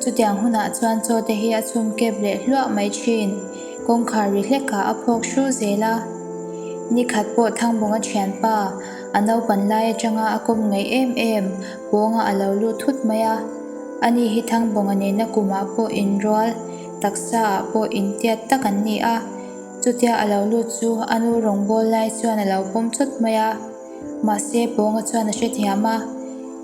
Chutiang hunah chuan Chawte hi a chhungkep leh hluah mai thin. Kawngkhar ri hlekah a phawk hru zel a. Ni khat pawh Thangbunga thianpa a naupan lai atanga a kawm ngaih em em. Pawngah a lo lut thut mai a. Ani hi Thangbunga neihna kumah pawh inrual, taksa ah pawh intiat tak an ni a. Chutia a lo lut chu a nu rawngbâwl lai chuan a lo pawm chawt mai a. Mahse, pawnga chuan a hrethiam a,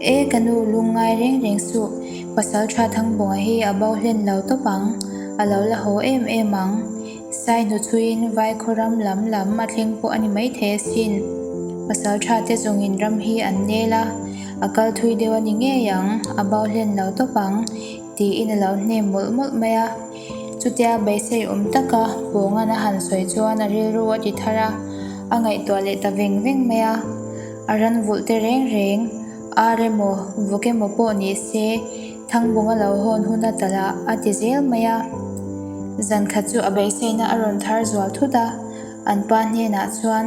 E ka nu, lung ngai reng reng suh. Pasal tha thang bunga hi a bau hlen lo tawp ang, a lo la haw em em ang. Sai hnuchuiin vai khawram lam lam a thleng pawh a ni maithei asin. Pasal tha te zawngin ram hi an nel a, a kal thui deuh a ni ngei ang, a bau hlen lo tawp ang. Tiin a lo hne mawlh mawlh mai a. Chutia beisei awm taka Pawngan a han sawi chuan a rilru a ti thar a, a ngaihtuah leh ta veng veng mai a. A ran vulh te reng reng, ar emaw, vuk emaw pawh ni se, Thangbawm a lo hawn hun a ta la, a ti zel mai a. Zankhat chu a beiseina a rawn thar zual thut a, an pa hnenah chuan.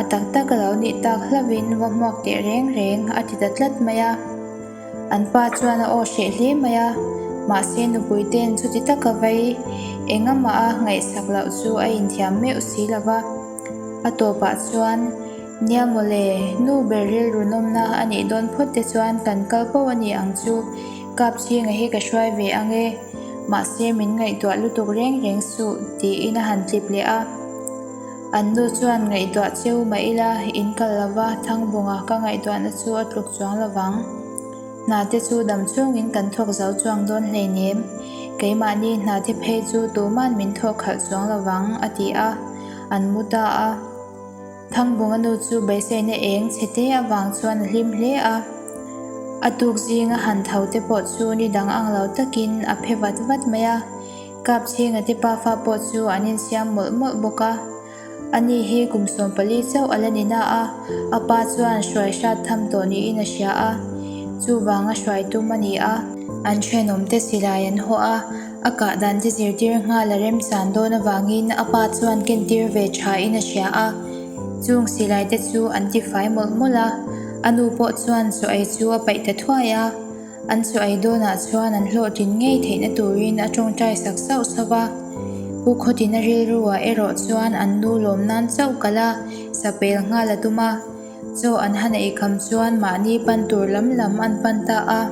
A tak tak a lo nih tak hlauh in va hmuak teh reng reng a ti ta tlat mai a, an pa chuan a aw hreh hle mai a, mahse nupui ten chuti tak a vai engamaha ngaihsak loh chu a inthiam meuh si lo va, a tawpah chuan Nia mawle, nu ber rilru nawmna a nih dawn phawt te chuan kan kal poh a nih ang chu, kap chhinga hi ka hruai ve ang e, mahse min ngaihtuah lutuk reng reng suh, tiin a han tlip leh a. An nu chuan ngaihduah cheu mah ila in kal lo va, Thangbunga ka ngaihduahna chu a tluk chuang lo vang. Hnate chu dam chungin kan thawk zau chuang dawn hleinem. Keimahni hnate phei chu tuman min thawk khalh chuang lo vang, a ti a. An mu ta a. Thangbunga nu chu beiseina eng che te avang chuan a hlim hle a. A tuk zinga han thote pawh chu ni dang ang lo takin a phe vat vat mai a. Kap zing a tipa fa pawh chu an insiam mawlh mawlh bawk a, ani hi kum sawm pali chauh a la ni na a, a pa chuan hruai hrat tham tawh niin a hria a, chuvang a hruai tum a ni a. An thenawm te silai an haw a, a kah dan te zirtir nghal a remsan dawn avangin a pa chuan kentir ve thain a hria a, chung silai te chu an ti fai mawlh mawlh a, a nu pawh chuan saw ei chu a paih ta thuai a. An saw ai dawnah chuan an hlawhtling ngei theihna turin a tawngtai sak sauh sauh a. Pu Khawtin a rilruah erawh chuan an nu lawm nan chauh kal a, sapel nghal a tum a. Chaw an han ei kham chuan mahni pan tur lam lam an pan ta a.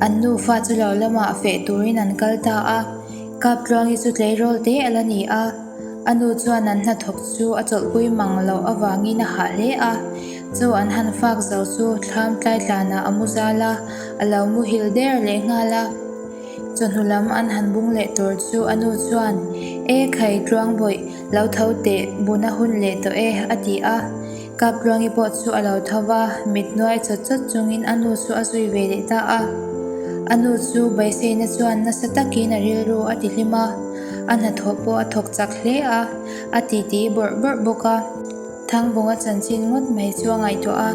An nufa chu lo lamah feh turin an kal ta a. Kap tluangi chu tleirawl te a la ni a. A nu chuan an hnathawk chu a chawlhpui mang loh avangin a hah hle a. Chaw an han fak zo chu thlamtlai tlanah a mu zal a, a lo muhil der leh nghal a. Chawhnu lam an han bung leh tur chu a nu chuan, E Khai tluangbawih, lo tho teh, buna hun leh tawh e, a ti a. Kapluangi pawh chu a lo tho va, mithnuai chawt chawt chungin a nu chu a zui ve leh ta a. A nu chu Bawiseina chuan nasa takin a rilru a ti hlim a, a hnathawh pawh a thawk chak hle a, a titi bawrh bawrh bawk a. Thangbunga chanchin ngawt mai chu a ngaihtuah a,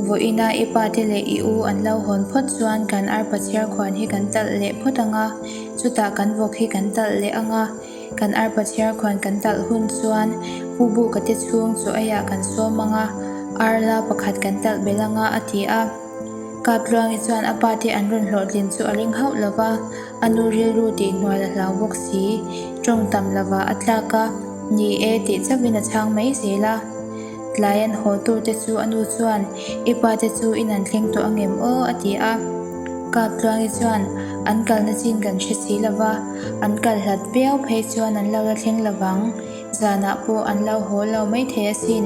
Vaw ina i pate leh i u an lo hawn phawt chuan kan arpa chhiar khuan hi kan talh leh phawt ang a, chutah kan vawk hi kan talh leh ang a. Kan arpa chhiar khuan kan talh hun chuan Pu Buka te chhung chu aiah kan sawm ang a, ar la pakhat kan talh belh ang a, a ti a. Kap Luangi chuan a pa te an rawn hlawhtlin chu a ring hauh lo va, a nu rilru tih hnuail a hlau bawk si. Tawng tam lovah a tlak a, Ni e tih chauhin a chhang mai zel a. Tlai an haw tur te chu a nu chuan, I pa te chu in an thleng tawh angem aw a ti a. Kap Tluangi chuan, An kalna chin kan hre si lo va, an kal hlat viau phei chuan an lo la thleng lo vang, zanah pawh an lo haw lo maithei asin,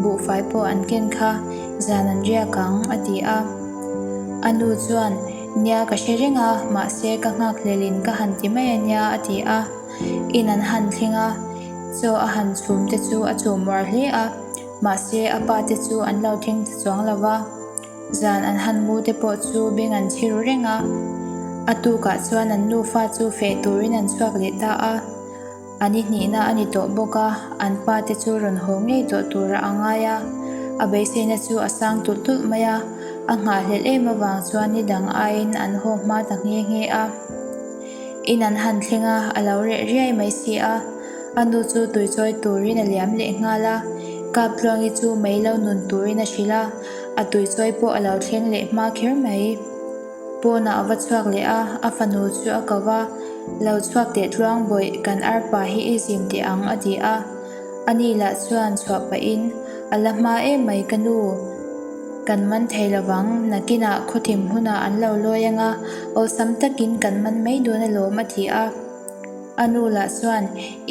buhfai pawh an ken kha, zan an riak ang a ti a. A nu chuan, Nia ka hre reng a, mahse ka nghak hlel in ka han ti mai a nia a ti a. In an han thleng a, chaw a han chhum te chu a chaw muar hle a, mahse a pa te chu an lo thleng ta chuang lo va, zan an han mu te pawh chu beng an chhi ru reng a. A tukah chuan an nufa chu feh turin an chhuak leh ta a, an i hnihna a ni tawh bawk a, an pa te chu rawn haw ngei tawh tura a ngai a, a beiseina chu a sang tulh tulh mai a, a nghah hlelh em avang chuan ni dang aiin an haw hma ta nghe nghe a. In an han thleng a, a lo reh riai mai si a, a nu chu tuichawi turin a liam leh nghal a, Kap Tluangi chu mei lo nun turin a hrilh a, a tuichawi pawh a lo thleng leh hma kher mai. Pawnah a va chhuak leh a, a fanu chu a ko va, Lo chhuak teh Tluang bawih, kan arpa hi i zim teh ang a ti a. A ni lah chuan chhuah pah in, A la hma em mai ka nu, kan man thei lo vang, nakin ah khawthim hunah an lo lawi ang a, awlsam tak in kan man mai dawn a lawm a ti a. A nu lah chuan,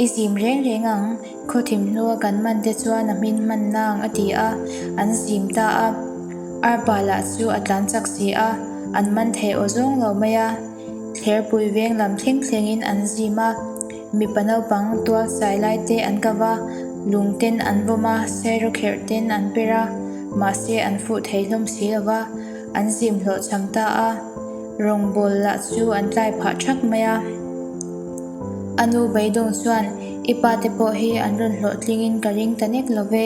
I zim reng reng ang, khawthim hnua kan man te chuan a hmin hman nang a ti a, an zim ta a. Arpa lah chu a tlan chak si a, an man thei aw zawng lo mai a. Kherpui veng lam thleng thlengin an zim a, mipa naupang tual sai lai te an kap a, lung ten an vawm a, serraw kherh ten an per a, mahse an fuh thei hlawm si lo va, an zim hlawh cham ta a, rawngbâwl lah chu an tlai phah ṭhak mai a. A nu Beidawng chuan, I pa te pawh hi an rawn hlawh tlingin ka ring ta nek lo ve.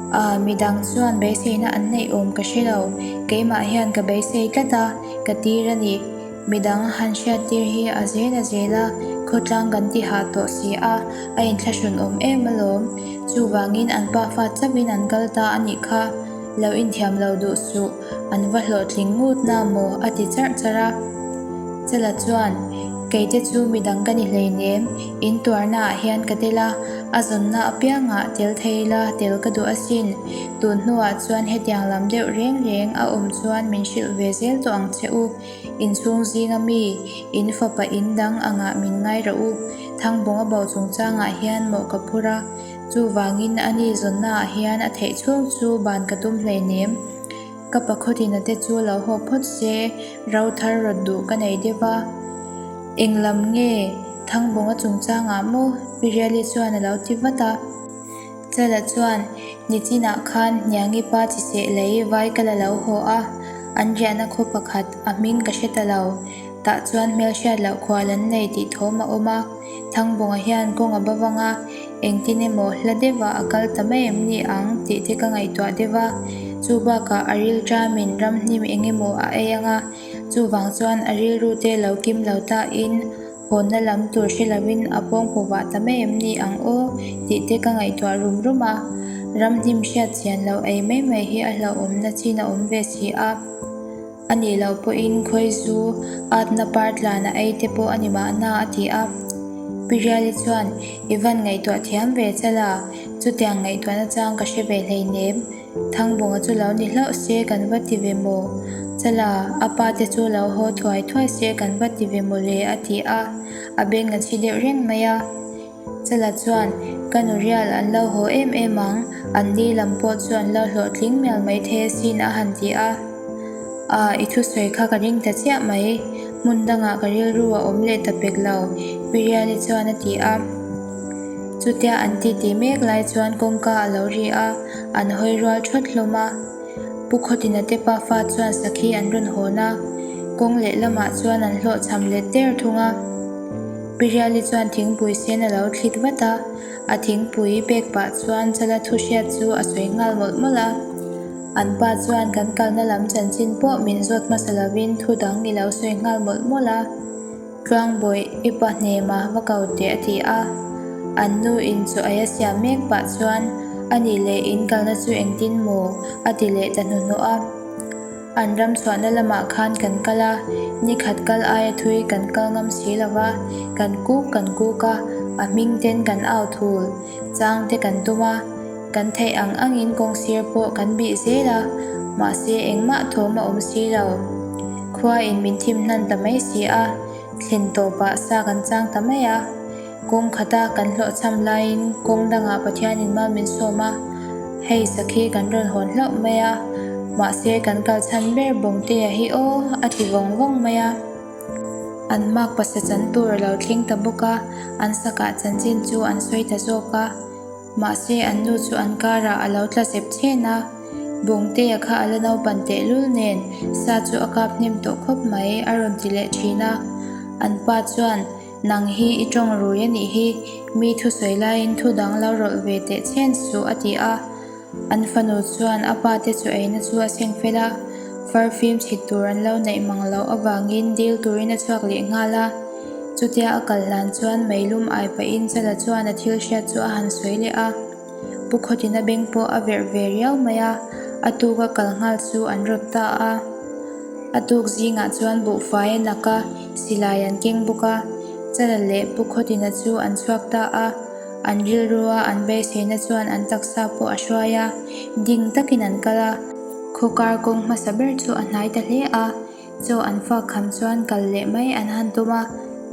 Aaa midang chuan beiseina an neih awm ka hre lo, keimah hian ka beisei tlat a, ka tir a ni. Midang a han hriat tir hi a zel a zel a, khawtlang kan ti hah tawh si a, a inthlahrun awm em alawm. Chuvangin an pa fat chauhin an kal ta a nih kha, lo inthiam lo duh suh. an va hlawhtling ngut na maw a ti charh charh a. Chela chuan, Keite chu midang ka ni hleinem, in tuarna ah hian ka tel a, a zawnna apiang ah tel thei ila tel ka duh asin, tun hnu ah chuan hetiang lam deuh reng reng a awm chuan min hrilh ve zel tawh ang che u, in chhung zing a mi, in fapa in dang ang ah min ngai rah u, Thangbawng a bau chungchang ah hian mawh ka phur a, Chuvangin a ni zawnnaah hian a theih chhung chu ban ka tum hleinem. Ka pa khawtina te chu lo hawk phawt se, ro thar rawt duh ka nei deuh a. Eng lam nge Thangbawnga chungchangah maw? Piriali chuan a lo ti vat a. Chela chuan, Nichinah khan Hniangi pa chi seh lei vai ka la lo haw a, an riahna khaw pakhat a hming ka hre ta lo. Tah chuan hmelhriat loh khual an nei tih thawm a awm a. Thangbawngah hian kawng a ba vang a, engtin emaw hla deuhah a kal ta mai em ni ang tih te ka ngaihtuah deuh a, chu bakah a rilṭam in ramhnim eng emaw a ei ang a, chuvang chuan a rilru te lo kim lo ta in hawnna lam tur hre lo in a pawng pawvah ta mai em ni ang aw tih te ka ngaihtuah rum rum a, ramhnim hriat chian lo ei mai mai hi a hlauhawmna chin a awm ve si a. A nih loh pawhin khawi zu atna par tlanah ei te pawh a ni mahna a ti a. Pi Riali chuan, I van ngaihtuah thiam ve chal a, chutiang ngaihtuahna chang ka hre ve hlei nem. Thangbawngah chu lo ni hlauh se kan va ti ve maw? Chal a, a pa te chu lo haw thuai thuai se kan va ti ve maw le? a ti a. A beng a chhi deuh reng mai a. Chela chuan, Ka nu rial an lo haw em em ang, an li lam pawh chu an lo hlawh tling mial mai thei asin a han ti a. Aah, i thusawi kha ka ring ta chiah mai, hmun dangah ka rilru a awm leh ta pek lo, Piriali chuan a ti a. Chutia an titi mek lai chuan kawngka a lo ri a, an hawi rual thawt hlawm a. Pu Khawtin a tepa fa chuan sakhi an rawn hawn a, kawng lehlamah chuan an hlawh chham let der thung a. Piriali chuan thingpui sen a lo thlit vat a, a thingpui bag pah chuan Chala thu hriat chu a sawi nghal mawlh mawlh a. An pa chuan kan kalna lam chanchin pawh min zawt hmasa lovin thu dang i lo sawi nghal mawlh mawlh a, Tluangbawi, i pa hnema va ko teh a ti a. An nu in chu ai a siam mek pah chuan, Anih leh in kalna chu engtin maw? a ti leh ta hnuhnawh a. An ramchhuahna lamah khan kan kal a, ni khat kal aia thui kan kal ngam si lo va, kan kuk kan kuk a, a hming ten kan au thul, chang te kan tum a, kan theih ang ang in kawng sir pawh kan bih zel a, mahse engmah thawm a awm si lo. Khua in min thim hnan ta mai si a, thlen tawp ah sa kan chang ta mai a. Kawng khata kan hlawh cham laiin kawng dangah Pathianin mau min sawm a, hei sakhi kan rawn hawn hlauh mai a, mahse kan kal chhan ber Bawngteia hi aw a ti vawng vawng mai a. An mak pasa chan tur a lo thleng ta bawk a, an sakah chanchin chu an sawi ta zawk a, mahse an nu chu an karah a lo tla zep chen a. Bawngteia kha a la naupan tehlul nen sa chu a kap hnem tawh khawp mai a rawn ti leh thin a, an pa chuan Nang hi i tawng rui a nih hi, mi thu sawi laiin thu dang lo rawlh ve teh chhen suh a ti a. An fanu chuan a pa te chu eina chu a seng fel a, far fim chhit tur an lo neih mang loh avangin dil turin a chhuak leh nghal a. Chutia a kal hlan chuan Meilum ai pahin Chala chuan a thil hriat chu a han sawi leh a. Pu Khawtin a beng pawh a verh ve riau mai a, a tuka kal nghal chu an rawt ta a. A tuk zingah chuan buhfai a nak a, silai an keng bawk a. Chana leh Pu Khawtina chu an chhuak ta a, an rilru a, an beiseina chuan an taksa pawh a hruai a, ding takin an kal a. Khawkar kawng hmasa ber chu a hnai ta hle a. Chaw an fak kham chuan kal leh mai an han tum a,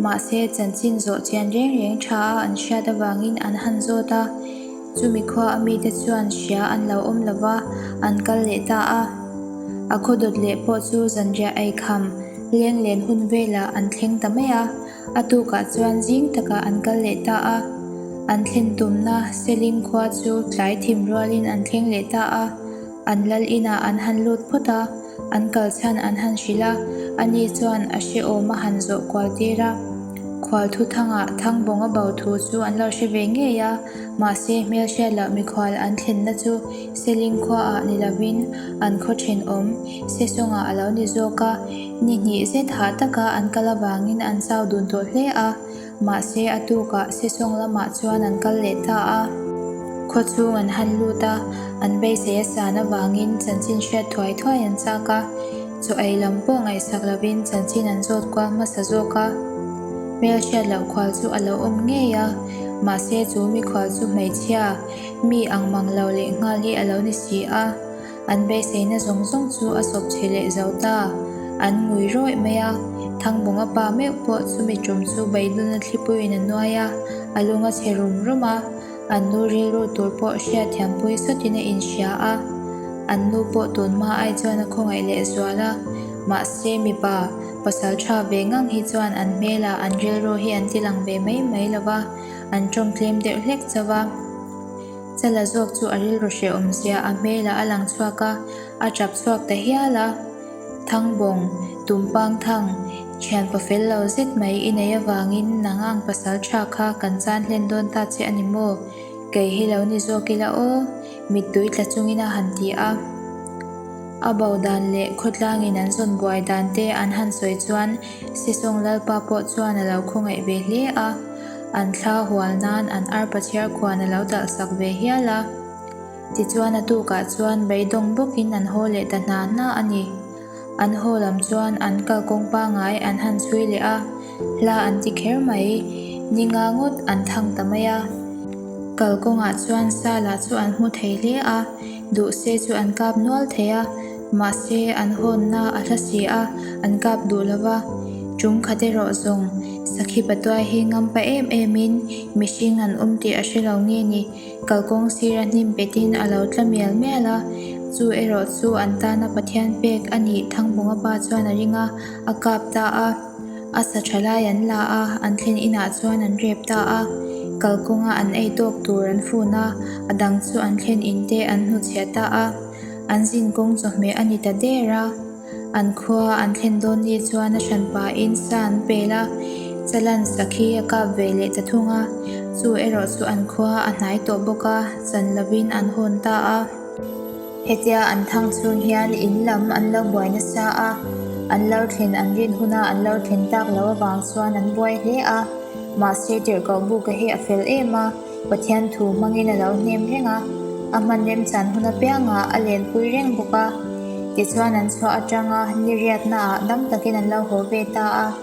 mahse chanchin zawh chian reng reng tha a an hriat avangin an han zawt a, chumi khua a mite chuan hria an lo awm lova an kal leh ta a, a khaw dawt leh pawh chu zanriah ei kham leng len hun velah an thleng ta mai a, a tukah chuan zing takah an kal leh ta a, an thlen tumna Selling khua chu tlai thim rualin an thleng leh ta a, An lal inah an han lut phawt a, an kal chhan an han hrilh a, ani chuan a hre awm a han zawh kual tir a. Khual thu thangah thang bawng a bau thu chu an lo hre ve ngei a, mahse hmelhriat lah mikhual an thlenna chu Seling khuaah ni lovin an khaw ṭhen awm Sesawngah a lo ni zawk a, ni hnih zet hah taka an kal avangin an chau dun tawh hle a. Mahse a tukah Sesawng lamah chuan an kal leh ta a, khaw chhung an han lut a, an beisei a san avangin chanchin hriat thuai thuai an chak a, chaw ei lam pawh ngaihsak lovin chanchin an zawt kual hmasa zawk a, hmel hriat loh khual chu a lo awm ngei a, mahse chu mikhual chu hmeichhia mi ang mang lo lehnghal hi a lo ni si a. An beiseina zawng zawng chu a sawp chhe leh zo ta, an ngui rawih mai a. Thangbunga pa meuh pawh chumi tum chu beidulna thlipuiin a nuai a, a lung a chhe rum rum a, an nu rilru tur pawh hriatthiampui satin a inhria a. An nu pawh tun hma ai chuan a khawngaih lehzual a, mahse mipa pasal tha ve ngang hi chuan an hmelah an rilru hi an tilang ve mai mai lova, an tawngtlem deuh hlek chauva. Sela zawk chu a rilru hreh awmzia a hmela a lang chhuak a, a tap chhuak ta hial a. Thangbawng, Tumpang Thang, thian pa fel lo zet mai i nei avangin nang ang pasal tha kha kan chan hlen dawn ta che a ni maw? Kei hi lo ni zawk ila aw, mittui tla chungin a han ti a. A baudan leh khawtlangin an zawn buai dan te an han sawi chuan. Sisawng Lalpa pawh chuan a lo khawngaih ve hle a, an thla hual nan an arpa chhiar khuan a lo dalh sak ve hial a. Tichuan a tukah chuan beidawng bawkin an haw leh ta hna hna a ni. An haw lam chuan an kal kawng pangai an han sui leh a, hla an ti kher mai, ni nga ngawt an thang ta mai a. Kal kawngah chuan Sala chu an hmu thei hle a, duh se chu an kap nual thei a, mahse an hawnna a hla si a, an kap duh lo va, ṭumkhat erawh zawng sakhi patuai hi ngam pah em emin mihring an awm tih a hre lo nge ni, kal kawng sira hnim petin a lo tla mial mial a, chu erawh chu an tana Pathian pek a nih, Thangbawnga pa chuan a ring a, a kap ta a. A sa tha lai an la a, an thlen inah chuan an rep ta a, kal kawnga an ei tawk tur an fun a, a dang chu an thlen in te an hnu chhiah ta a, an zin kawng chawhmeh a ni ta der a, an khua an thlen dawn ni chuan a hran pa in sa an pel a, Chalan sakhi a kap ve leh ta thung a, chu erawh chu an khua a hnai tawh bawk a, chan lovin an hawn ta a. Hetia an thang chhung hian in lam an lo buai nasa a, an lo thlen an rin huna an lo thlen tak lo avang chuan an buai hle a. Mahse tirhkoh buka hi a fel em a, Pathian thu hmangin a lo hnem reng a, a hman remchan hun apiangah a lenpui reng bawk a. Tichuan an chhuah atanga niriatnaah dam takin an lo haw ve ta a.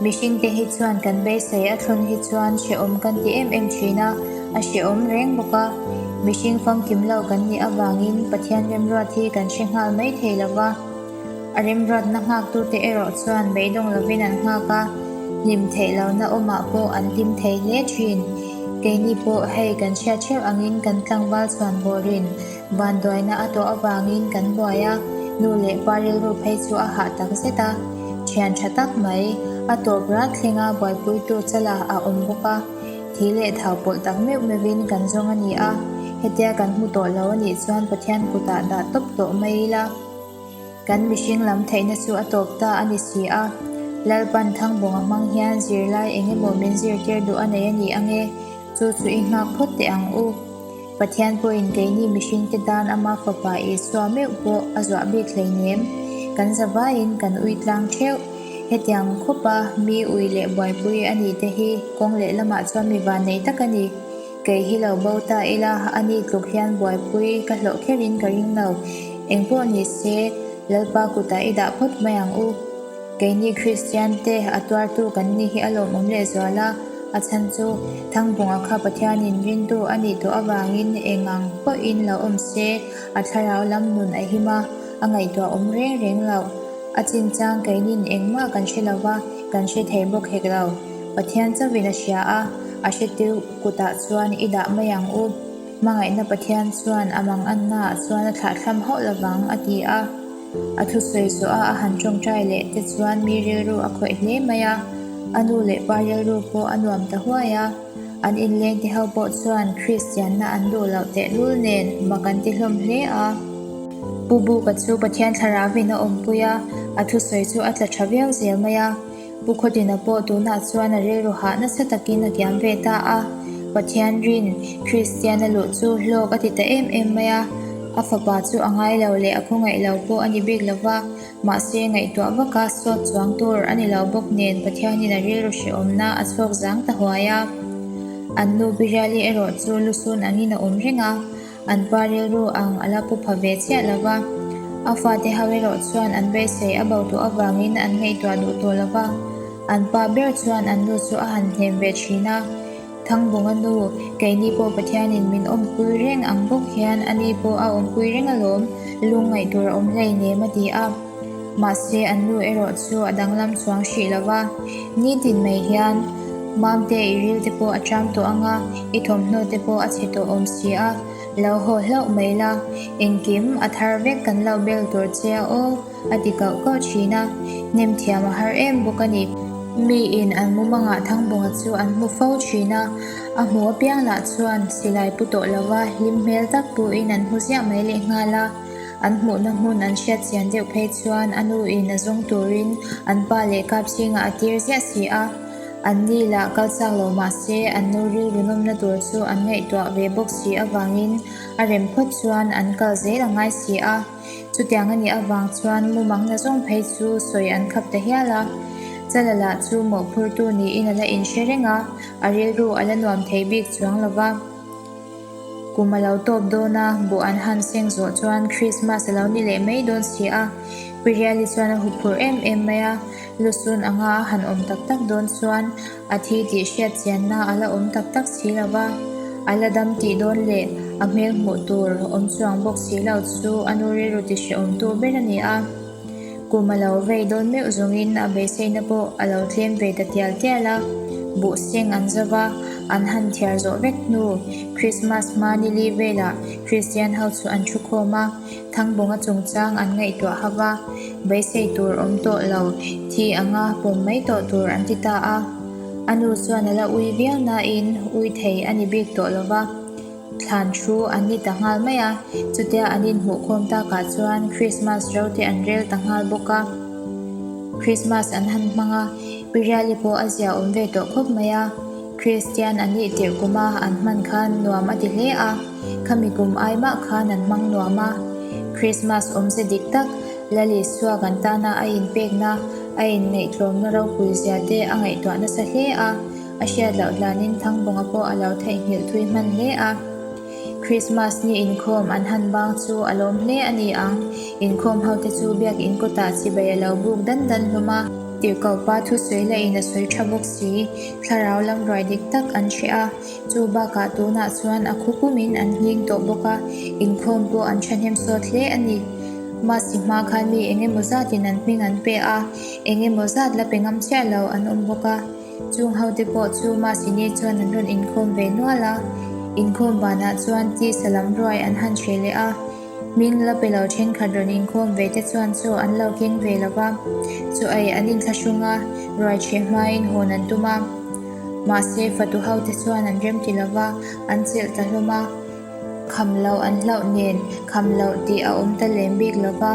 Mihringte hi chuan kan beisei a thlun hi chuan hrehawm kan ti em em thin a, a hrehawm reng bawk a. Mihring famkim lo kan nih avangin Pathian remruat hi kan hre nghal mai thei lo va. A remruatna nghaktute erawh chuan beidawng lovin an nghak a, hlim theih lohna awmah pawh an hlim thei hle thin. Keini pawh hei kan hria theuh angin kan tlangval chhuan bawrin, Banduaina a tawh avangin kan buai a, nu leh pa rilru phei chu a hah tak zet a, thian tha tak mai. A tawp rat thleng a, buaipuitu Chala a awm bawk a, thih leh thau pawlh tak meuh meuhin kan zawng a ni a, hetia kan hmu tawh lo a nih chuan Pathian kutah dah tawp tawh mai ila, kan mihring lam theihna chu a tawp ta a ni si a, Lalpan Thangbawnga hmang hian zirlai eng emaw min zirtir duh a nei a nih ange, chu chu i nghak phawt teh ang u. Pathian pawhin keini mihringte dan Ama Fapa Isua meuh pawh a zuah bik hleinem. Kan zavaiin kan uitlang theuh. Hetiang khawpa mi ui leh buaipui a nihte hi kawng lehlamah chuan mi van nei tak a ni. Kei hi lo bo ta ila a ni tluk hian buaipui ka hlawh kherin ka ring lo. Engpawh nise Lalpa kutah i dah phawt mai ang u. Keini Kristian te a tuartu kan ni hi a lawmawm lehzual a, a chhan chu Thangbunga kha Pathianin rintu a nih tawh avangin eng ang pawhin la awm se, a thlarau lam nun a him a, a ngaihtuah awm reng reng lo. A chinchang keinin engmah kan hre lo va, kan hre thei bawk hek lo. Pathian chauhin a hria a, a hre tirh kutah chuan i dah mai ang u. Hmangaihna Pathian chuan a mangannaah chuan a thlahthlam hauh lovang a ti a. A thusawi zawh a, a han tawngtai leh te chuan mi rilru a khawih hle mai a, a nu leh pa rilru pawh a nuam ta huai a. An inleng te ho pawh chuan Kristianna an duh loh tehlul nen mah kan ti hlawm hle a. Pu Buka chu Pathian thlarau in a awmpui a, a thusawi chu a tla tha viau zel mai a. Pu Khawtina pawh tunah chuan a rei ruhah nasa takin a kiam ve ta a. Pathian rin Kristiana luh chu hlawk a ti ta em em mai a. A fapa chu a ngai lo leh a khawngaih lo pawh a ni bik lo va, mahse ngaihtuah vaka sawt chuang tur a ni lo bawk nen Pathianin a rilru hrehawmna a chhuak zang ta huai a. An nu Biriali erawh chu lusun angin a awm reng a. An pa rilru ang a la pupha ve chiah lo va, a fate ho erawh chuan an beisei a bo tawh avangin an ngaihtuah duh tawh lo va, an pa ber chuan an nu chu a han hnem ve thin a. Thangbunga nu, keini pawh Pathianin min awmpui reng ang bawk hian ani pawh a awmpui reng alawm, lungngaih tur a awm hlei nem a ti a. Mahse, an nu erawh chu a danglam chuang hrih lo va, ni tin mai hian, Mamte, i rilte pawh a ṭam tawh anga, i thawmhnaute pawh a chhe tawh awm si a, lo haw hlauh mai la, engkim a thar vek kan lo bel tur che a aw, a ti kauh kauh ṭhin a, hnemthiam a har em bawk a ni. Mi in an mumangaah Thangbunga chu an hmu fo ṭhin a, a hmu apiang lah chuan silai pu tawh lo va, hlim hmel tak pu in an hmu ziah mai lehnghal a. An hmuhna hmun an hriat chian deuh phei chuan a nu in a zawng turin an pa leh kap chhingah a tir ziah si a. An ni lah kal chak lo mah se an nu rilru nawmna tur chu an ngaihtuah ve bawk si avangin a rem phawt chuan an kal zel a ngai si a. Chutiang a nih avang chuan mumangna zawng phei chu sawi an khap ta hial a. Chalala chu mawhphurtu niin a la inhre reng a, a rilru a la nuam thei bik chuang lo va. Kum a lo tawp dawn a, bawh an han seng zawh chuan Krismas a lo ni leh mai dawn si a. Piriali chuan a hup phurh em em mai a, Lusun anga a han awm tak tak dawn chuan a thi tih hriat chianna a la awm tak tak si lo va, a la dam tih dawn leh a hmel hmuh tur awm chuang bawk si lo chu a nu rilru ti hre awmtu ber a ni a. Kum a lo vei dawn meuh zawngin a beiseina pawh a lo tlem ve ta tial tial a, buh seng an zau va, an han thiar zawh vek hnu. Krismas hma nili velah Kristian ho chu an thu khawm a, Thangbunga chungchang an ngaihtuah hauh a, beisei tur awm tawh lo, thi anga pawm mai tawh tur an ti ta a. A nu chuan a la ui viau nain ui thei a ni bik tawh lo va. thlan thu an ni ta nghal mai a, chutia an inhmuhkhawm takah chuan Krismas rote an rel ta nghal bawk a, Krismas an han hmang a, Piriali pawh a ziaawm ve tawh khawp mai a, Kristian a nih tirh kuma an hman khan nuam a ti hle a, khami kum ai mah khan an hmang nuam a, Krismas awmze dik tak, Lali suak an tana a inpekna, a inngaihtlawmna ropui ziate a ngaihtuah nasa hle a, a hriat loh hlanin Thangbunga pawh a lo theihnghilh thui hman hle a. Krismas ni inkhawm an han bang chu a lawm hle a ni ang. Inkhawm hote chu biakin kawtah chibai a lo buk dan dan hlawm a. Tirhkopa thusawi lahin a sawi tha bawk si. Thlarau lam ruai dik tak an hre a. Chu bakah tunah chuan a khupumin an hling tawh bawk a. Inkhawm pawh an thahnem sawt hle a ni. Masi hma khan mi eng emaw zatin an hming an pe a. Eng emaw zat la pe ngam chiah lo an awm bawk a. Chung hote pawh chu mahsine chuan an rawn inkhawm ve nual a, inkhawm vanah chuan tisa lam ruai an han hre leh a, hming la pelo thenkhat rawn inkhawm ve te chuan chaw an lo keng ve lo va, chaw ei an inthlahrung a, ruai chhe hmain hawn an tum a, mahse fatu hote chuan an remti lo va, an chelh ta hlawm a. Kham lo an hlauh nen, kham lo tih a awm ta lem bik lo va.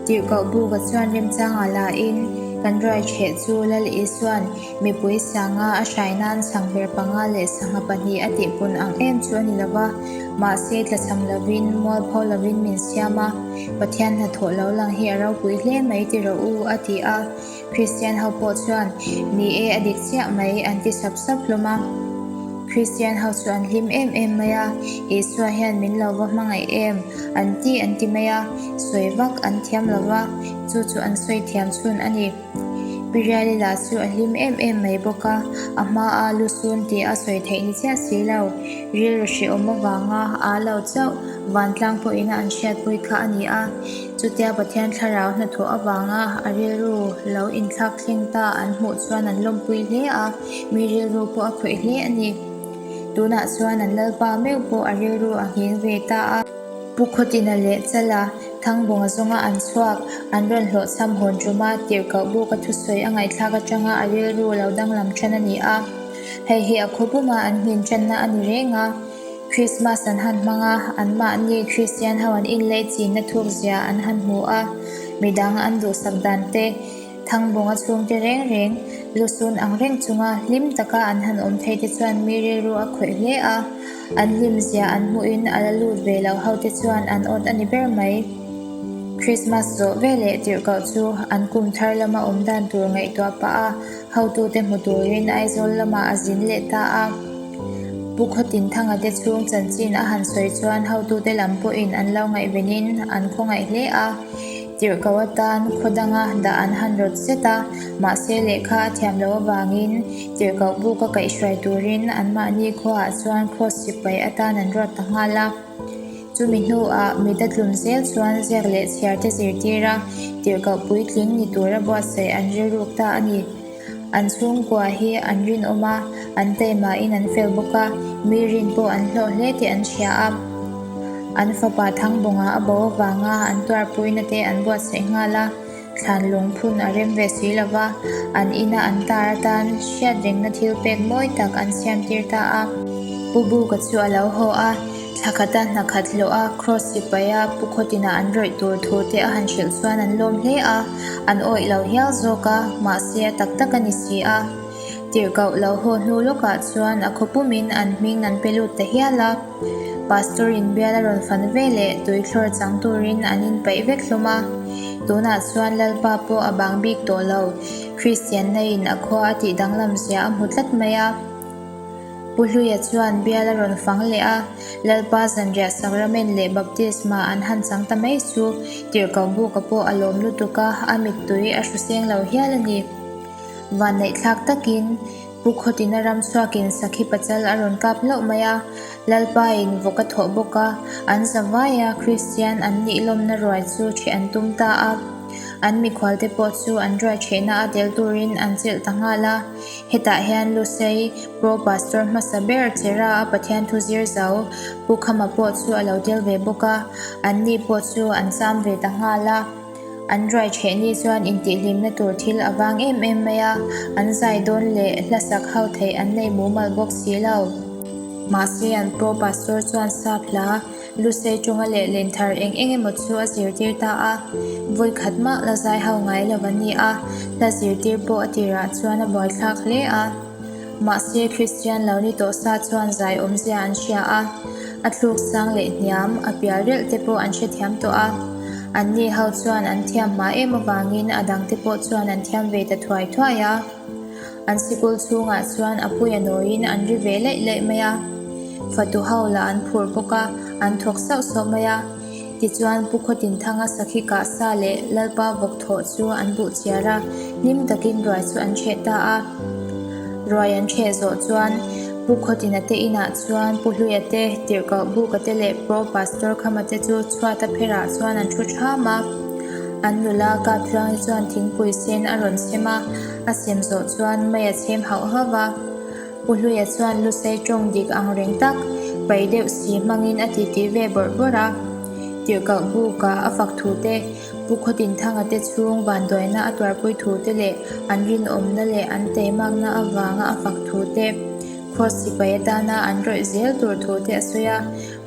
Tirhkoh buka chuan remchanga la in kan ruaichheh chu Lal Isua'n mipui sanga a hrai nan sang ber panga leh sangha pahnih a tihpun ang em chu a ni lo va. Mahse, tlachham lo in, mualpho lo in min siam a, Pathian hnathawh lo lang hi a ropui hle mai ti rawh u, a ti a. Kristian ho pawh chuan, Ni e, a dik chiah mai, an ti sap sap hlawm a. Kristian ho chu an hlim em em mai a, Isua hian min lo va hmangaih em? an ti an ti mai a, sawi vak an thiam lo va, chu chu an sawi thiam chhun a ni. Pirialila chu a hlim em em mai bawk a, a hmaa lusun tih a sawi theih ni chiah si lo, rilru hrehawm avanga aa lo chauh, vantlang pawhin a an hriatpui kha a ni a. Chutia Pathian thlarau hnathawh avanga a rilru lo inthlak thleng ta an hmuh chuan an lawmpui hle a, mi rilru pawh a khawih hle a ni. Tunah chuan an Lalpa meuh pawh a rilru a ngheng ve ta a. Pu Khawtina leh Chala Thangbawnga zawnga an chhuak, an rawn hlawhchham hawn tuma tirhkoh buk a thusawi a ngaihthlak atanga a rilru lo danglam than a ni a. Hei hi a khawpuma an hnin tanna a ni reng a. Krismas an han hmang a, anmahni Kristian ho an inlei chinna thukzia an han hmu a, midang an duhsak dante, thangbawng a chhungte reng reng, lusun ang reng chunga hlim taka an han awm thei te chuan mi rilru a khawih hle a, an hlimzia an hmuhin a la lut ve loh hote chuan an awt a ni ber mai. Krismas zawh veleh tirhkoh chu an kum thar lama awm dan tur ngaihtuah pah a, Hotute hmu turin Aizawl lamah a zin leh ta a. Pu Khaw Tin Thanga te chhung chanchin a han sawi chuan hotute lam pawhin an lo ngaihvenin an khawngaih hle a. Tirhkoh atan khaw danga dah an han rawt zet a. Mahse lehkha a thiam loh avangin tirhkoh buk a kaihhruai turin anmahni khuaah chuan cross sipai atan an rawt ta nghal a. Chumi hnuah mida tlun zel chuan ziak leh chhiar te zirtir a, tirhkoh puitling ni tura buatsaih an rilruk ta a ni. An chhungkua hi an rinawm a, an teimahin an fel bawk a, mi rin pawh an hlawh hle tih an hria a. An fapa Thangbawngah a bo avanga an tuarpuina te an buatsaih nghal a. Thlan lungphun a rem ve si lo va, an ina an tar atan hriat rengna thil pek mawi tak an siamtir ta a. Pu Buka chu a lo haw a, thla khata hna khat hlawh a, Cross sipai a Pu Khawtin ah an rawih tur thu te a han hrilh chuan an lawm hle a, an awih lo hial zawk a, mahse a tak tak a ni si a. Tirhkoh lo haw hnu lawkah chuan a khaw pumin an hming an pe lut ta hial a. Pastor in biala rawn fan ve leh tui thlawr chang turin an in paih vek hlawm a. Tunah chuan Lalpa pawh a bang bik tawh lo, Kristianna in a khua a tih danglam zia a hmu tlat mai a. Pu Hluia chuan biala rawn fang leh a, Lalpa zanriah Sacrament leh Baptisma an han chang ta mai chu tirhkoh buka pawh a lawm lutuk a, a mittui a hru seng lo hial a ni. Vanneih thlak takin. Pu Khawtina Ramsuakin sakhi pachal a rawn kap hlauh mai a, Lalpain vawk a thawh bawk a, an zavaia Kristian an nihlawmna ruai chu ṭheh an tum ta a, an mikhualte pawh chu an ruai ṭhehna a tel turin an chelh ta nghal a. Hetah hian Lusei Pro Pastor hmasa ber Chera'a Pathian thu zir zo Pu Khama pawh chu a lo tel ve bawk a, anni pawh chu an cham ve ta nghal a. An ruai chhe ni chuan intihhlimna tur thil a vang em em mai a, an zai dawn leh hlasak hau theih an nei mumal bawk si lo. Mahse an paw pastor chuan sa phla, lu sei tunga leh len thar eng eng emaw chu a zirtir ta a, vawi khat mah la zai hau ngai lo a ni a, hla zirtir pawh a tirah chuan a buaithlak hle a. Mahse, Kristian lo ni tawh sa chuan zai awmzia an hria a, a tluk sang leh hniam, a pial relh te pawh an hrethiam tawh a. An ni ho chuan an thiam hma em avangin a dang te pawh chuan an thiam ve ta thuai thuai a. An sikul chhungah chuan a puia nawiin an ri ve laih laih mai a. Fatu ho lah an phur bawk a, an thawk sauh sauh mai a. Tichuan, Pu Khawtin Thanga sakhi kah sa leh Lalpa vawk thawh chu an buh chhiar a, hlim takin ruai chu an chheh ta a. Ruai an chheh zawh chuan, Pu Khawtina te inah chuan Pu Hluia te, Tirhkoh Buka te leh Pro Pastor Khama te chu chhuat a pherah chuan an thu ṭham a. An nula Kap Hluangte chuan thingpui sen a rawn sem a, a sem zawh chuan mai a chhem hauh hauh a. Pu Hluia chuan lu sei tawng dik ang reng tak, pai deuh si hmangin a titi ve bawrh bawrh a. Tirhkalh bûka a fak thu te, Pu Khaw Tin Thanga te chhûng vânduaina a tuarpui thu te leh an rinawmna leh an teimakna avânga a fak thu te, Cross sipai atâna an rawih zêl tûr thu te a sawi a.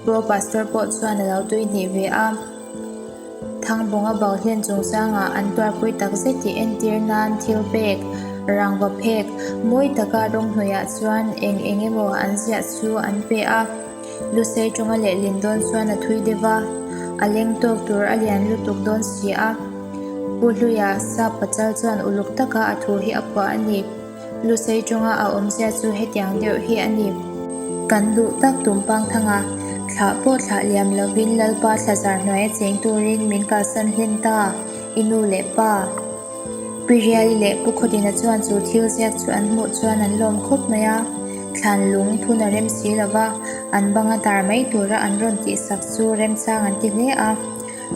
Pro Pastor pawh chuan a lo tuihnih ve a. Thangbawnga bau hian chung sanga an tuarpui takzet tih entir nan thil pek, rangva phek, mawi taka rawnghnawihah chuan eng eng emaw an ziah chu an pe a. Lusei tawnga leh lin dawn chuan a thui deuh va, a leng tawk tur a lian lutuk dawn si a. Pu Hluia sa pachal chuan uluk taka a thu hi a phuah a ni. Lusei tawnga a awmzia chu hetiang deuh hi a ni. Kan duh tak Tumpang Thanga thlah pawh thlah liam lovin Lalpa thlazar hnuaia cheng turin min kalsan hlen ta i nu leh pa. Pi Riali leh Pu Khawtina chuan chu thil ziak chu an hmuh chuan an lawm khawp mai a, thlan lung phun a rem si lova, an banga tar mai tura an rawn tihsak chu remchang an ti hle a,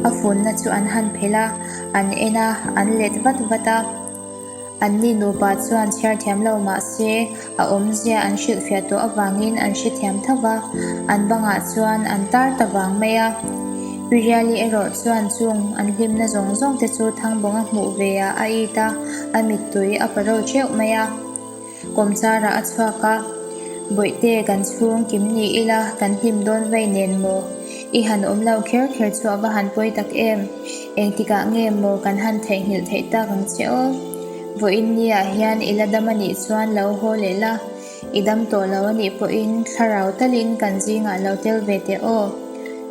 a funna chu an han phelh a, an en a, an let vat vat a. Anni nupa chuan chhiar thiam lo mah se, a awmzia an hrilhfiah tawh avangin an hre thiam tho va, an bangah chuan an tar ta vang mai a. Piriali erawh chuan chung an hlimna zawng zawngte chu Thangbawnga hmuh veiah a it a, a mittui a pa reuh ṭeuh mai a. Kawmchara a chhuak a, Bawihte kan chhung kim ni ila kan hlim dawn vei nen maw? I han awm lo kher kher chu a va han pawi tak em? Engtikah nge maw kan han theihnghilh theih tak ang che aw? Vawiin nia hian ila dam a nih chuan lo haw leh la, i dam tawh lo a nih pawhin thlarau talin kan zingah lo tel ve teh aw.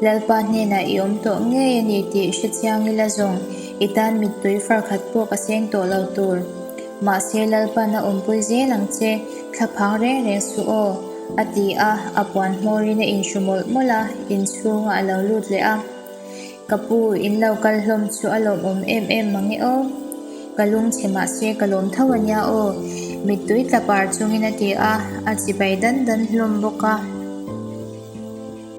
Lalpa hnenah i awm tawh ngei a ni tih hre chiang ila zawng i tan mittui farkhat pawh ka seng tawh lo tur. Mahse Lalpan a awmpui zel ang che, thla phang reng reng suh aw, a ti a, a puan hmawrin a inhru mawlh mawlh a, inchhunga a lo lut leh a, Ka pu, in lo kal hlawm chu a lawmawm em em mang e aw, ka lungchhe mahse ka lawm tho a nia aw, mittui tla par chungin a ti a, a chibai dan dan hlawm bawk a.